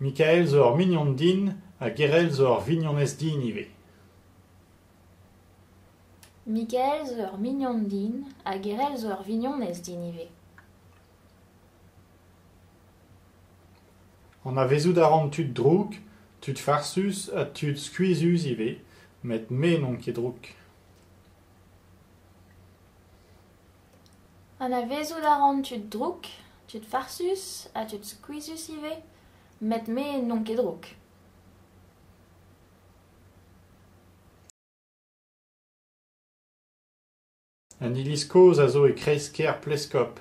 Mikael zo ur mignon din ha Gerel zo ur vignonez din ivez. Mikael zo ur mignon din ha Gerel zo ur vignonez din ivez. Anavezout a ran tud drouk, tud farsus ha tud skuizhus ivez, met me n'on ket drouk. Anavezout a ran tud drouk, tud farsus ha tud skuizhus ivez, met me n'on ket drouk. An iliz kozh a zo e kreiz-kêr Pleskob.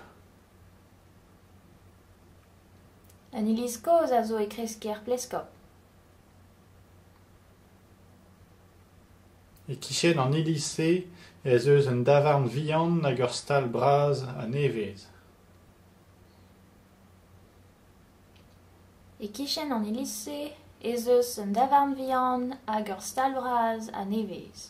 An iliz kozh a zo e kreiz-kêr Pleskob. E-kichen an iliz-se ez eus un davarn vihan hag ur stal bras ha nevez.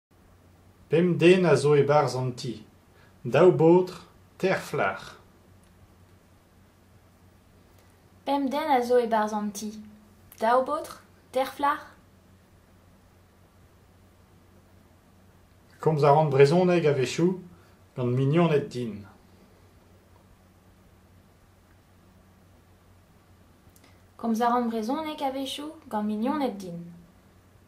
Pemp den a zo e-barzh an ti, daou baotr, teir flac'h. Komz a ran brezhoneg a-wechoù gant mignoned din.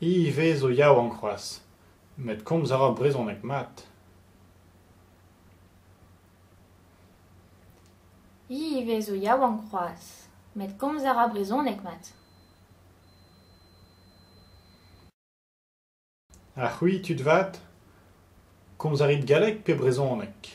Ivez zo yaouank c'hoazh met komz a ra brezhoneg mat. Ha c'hwi tud vat ? Komz a rit galleg pe brezhoneg ?